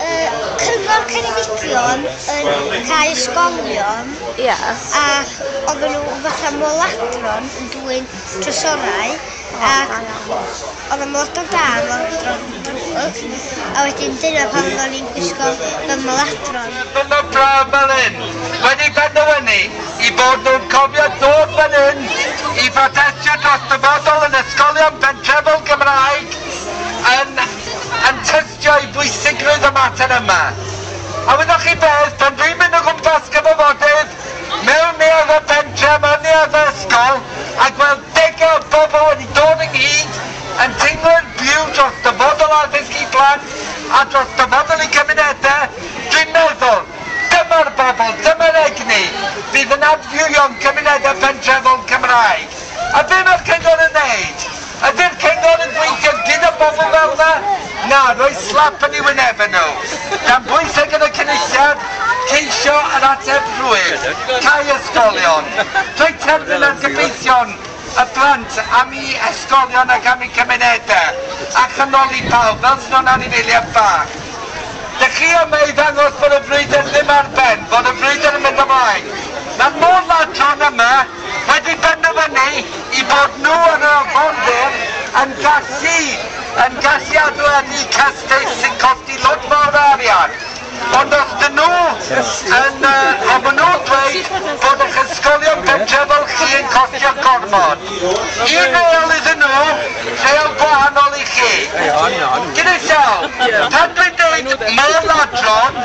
Y Cyngor Ceredigion yn rhai ysgolion... Ie. ...ac oedden nhw fatha moladron yn dwyn trysorau ac oedd y moladron da a'r moladron drwg a wedyn dyna pam oedden ni'n gwisgo fel moladron. Mae'r cyngor braf fel hyn wedi penderfynu i fod nhw'n cofio dod fan hyn i brotestio dros dyfodol yn ysgolion pentrefol Gymraeg. yn yn tystio i bwysigrwydd y mater yma. A wyddoch chi beth, pan dwi'n mynd o gwmpas cyfafodydd, mewn neuaddau pentre, mewn neuaddau ysgol, a gweld degau o bobl wedi dod ynghyd yn teimlo'r byw dros dyfodol addysg i blant a dros dyfodol i gymunedau, dwi'n meddwl, dyma'r bobl, dyma'r egni fydd yn adfywio'n cymunedau pentrefol Cymraeg. A be mae'r Cyngor yn wneud? Ydy'r Cyngor yn gweithio gyda bobl fel 'na? Na, rhoi slap yn eu wynebau nhw. Dan bwyseg yn y Cynulliad, ceisio yr ateb rhwydd, cau ysgolion. Rhoi terfyn ar gyfeillion y plant am eu hysgolion ac am eu cymunedau, a chanoli pawb, fel sydd o'n anifeiliaid bach. Dych chi yma i ddangos bod y frwydr ddim ar ben, bod y frwydr yn mynd ymlaen. Mae mor ladron yma. wedi penderfynu i bod nhw yn yr arfordir yn gallu yn gallu adeiladu cestyll sy'n costi lot fawr o arian ond os dyn nhw yn yy a ma' nhw'n dweud bod eich ysgolion pentre' fel chi yn costio gormod un reol iddyn nhw reol gwahanol i chi gyda llaw pan dwi'n deud môr ladron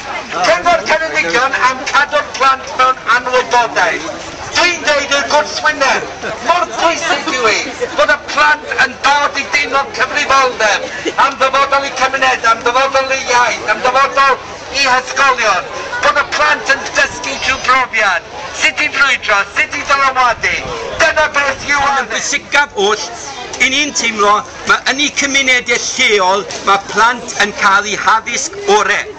Cyngor Ceredigion am cadw'r plant mewn anwybodaeth. Dwi'n deud i'r gwrthwyneb, mor bwysig yw hi fod y plant yn dod i deimlo'r cyfrifoldeb am ddyfodol eu cymunedau, am ddyfodol eu iaith, am ddyfodol eu hysgolion, bod y plant yn dysgu trwy brofiad, sut i frwydro, sut i ddylanwadu, dyna beth yw addysg. Mae'n bwysicaf oll i ni'n teimlo Mae yn y cymunedau lleol mae plant yn cael eu haddysg orau.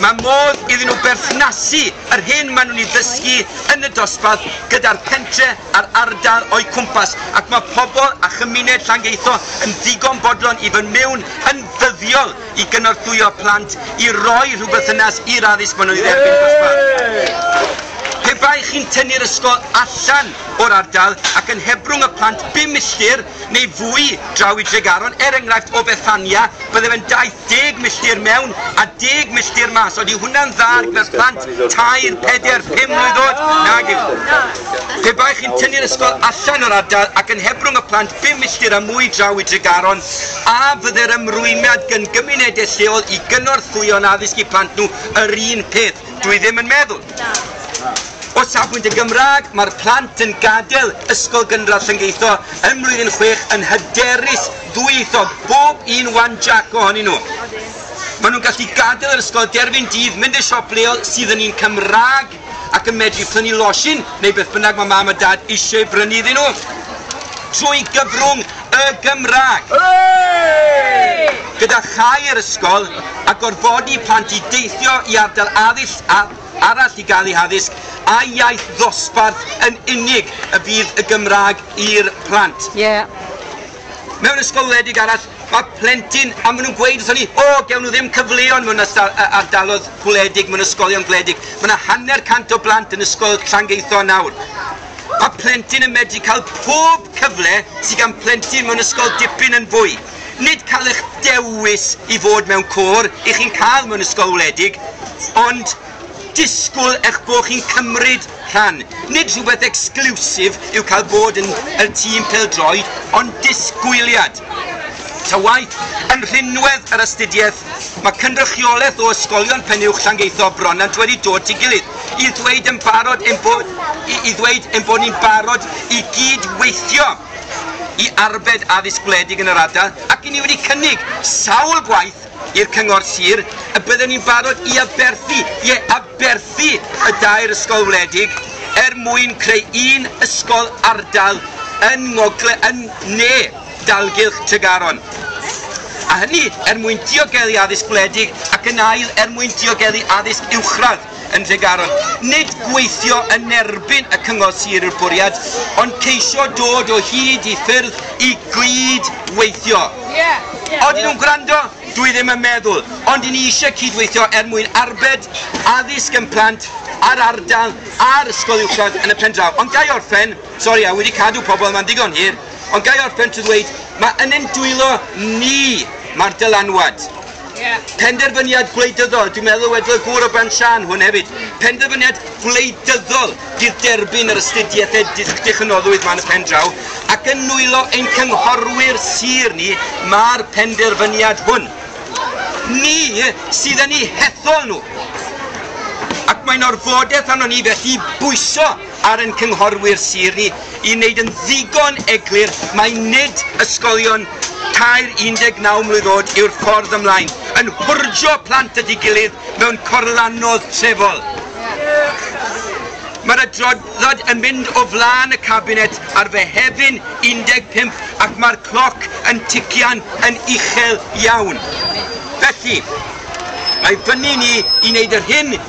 Mae modd iddyn nhw berthnasu yr hyn maen nhw'n ei ddysgu yn y dosbarth gyda'r pentre a'r ardal o'u cwmpas ac mae pobl a chymuned Llangeitho yn ddigon bodlon i fod mewn yn ddyddiol i gynorthwyo plant i roi rhywberthynas i'r addysg maen nhw'n ei dderbyn dosbarth. Pe bai chi'n tynnu'r ysgol allan o'r ardal ac yn hebrwng y plant bum milltir neu fwy draw i Dregaron, er enghraifft o Fethania bydde fe'n daith deg milltir mewn a deg milltir mas, odi hwnna'n dda ar gyfer plant tair, peder, pum mlwydd oed? Nag yw. Pe bai chi'n tynnu'r ysgol allan o'r ardal ac yn hebrwng y plant bum milltir a mwy draw i Dregaron, a fydde'r ymrwymiad gyn gymunedau lleol i gynorthwyo'n addysg i plant nhw yr un peth? Dwi ddim yn meddwl. O safbwynt y Gymraeg, mae'r plant yn gadael Ysgol Gynradd Llyngeitho yn Mlwyddyn Chwech yn hyderus ddwyieithog, bob un wan Jac ohonyn nhw. Maen nhw'n gallu gadael yr ysgol derfyn dydd, mynd i'r siop leol sydd yn un Cymraeg ac yn medru prynu losin neu beth bynnag mae Mam a Dad eisiau ei brynu iddyn nhw. Trwy gyfrwng y Gymraeg! Gyda chau yr ysgol a gorfodi plant i deithio i ardal addysg arall i gael eu haddysg a'u iaith ddosbarth yn unig y bydd y Gymraeg i'r plant. Mewn ysgol wledig arall mae plentyn, a maen nhw'n gweud wrthon ni, o, gewn nhw ddim cyfleon mewn ardaloedd gwledig, mewn ysgolion gwledig. Mae yna hanner cant o blant yn ysgol Llangeitho nawr. Mae plentyn yn medru cael pob cyfle sydd gan plentyn mewn ysgol dipyn yn fwy. Nid cael eich dewis i fod mewn côr i chi'n cael mewn ysgol wledig, ond disgwyl eich bod chi'n cymryd rhan. Nid rhywbeth exclusive yw cael bod yn y tîm pêl-droed, ond disgwyliad. Ta waeth, yn rhinwedd yr astudiaeth, mae cynrychiolaeth o ysgolion pen-uwch Llangeitho a Bronant wedi dod at ei gilydd. i ddweud yn barod ein bod, i, i ddweud ein bod ni'n barod i gyd-weithio i arbed addysg gwledig yn yr ardal ac i ni wedi cynnig sawl gwaith i'r cyngor sir y bydden ni'n barod i aberthu, ie, aberthu y dair ysgol wledig er mwyn creu un ysgol ardal yn ngogle yn ne dalgylch Tregaron, a hynny er mwyn diogelu addysg gwledig ac yn ail er mwyn diogelu addysg uwchradd yn Nhregaron. Nid gweithio yn erbyn y Cyngor Sir yw'r bwriad, ond ceisio dod o hyd i ffyrdd i gyd weithio. Odyn nhw'n gwrando? Dwi ddim yn meddwl, ond i ni eisiau cydweithio er mwyn arbed addysg yn plant a'r ardal a'r ysgol uwchradd yn y pen draw. Ond ga i orffen? Sori, a wedi cadw pobl yma'n ddigon hir. Ond ga i orffen trwy ddweud, mae yn ein dwylo ni, mae'r dylanwad. Yeah. Penderfyniad gwleidyddol, dwi'n meddwl wedodd y gŵr o Bran Siân hwn hefyd, penderfyniad gwleidyddol fydd derbyn yr astudiaethau dychynnoddwydd ma'n y pen draw, ac yn nwylo ein cynghorwyr sir ni mae'r penderfyniad hwn. Ni sydd yn eu hethol nhw. Ac mae'n orfodaeth arno ni felly bwyso ar ein cynghorwyr sir ni i wneud yn ddigon eglur mai nid ysgolion tair 19 mlwydd oed yw'r ffordd ymlaen yn hwrjo plant at ei gilydd mewn corlannodd trefol. Mae'r adroddiad yn mynd o flaen y Cabinet ar Fehefin 15 ac mae'r cloc yn tician yn uchel iawn. Felly, mae fyny ni i wneud yr hyn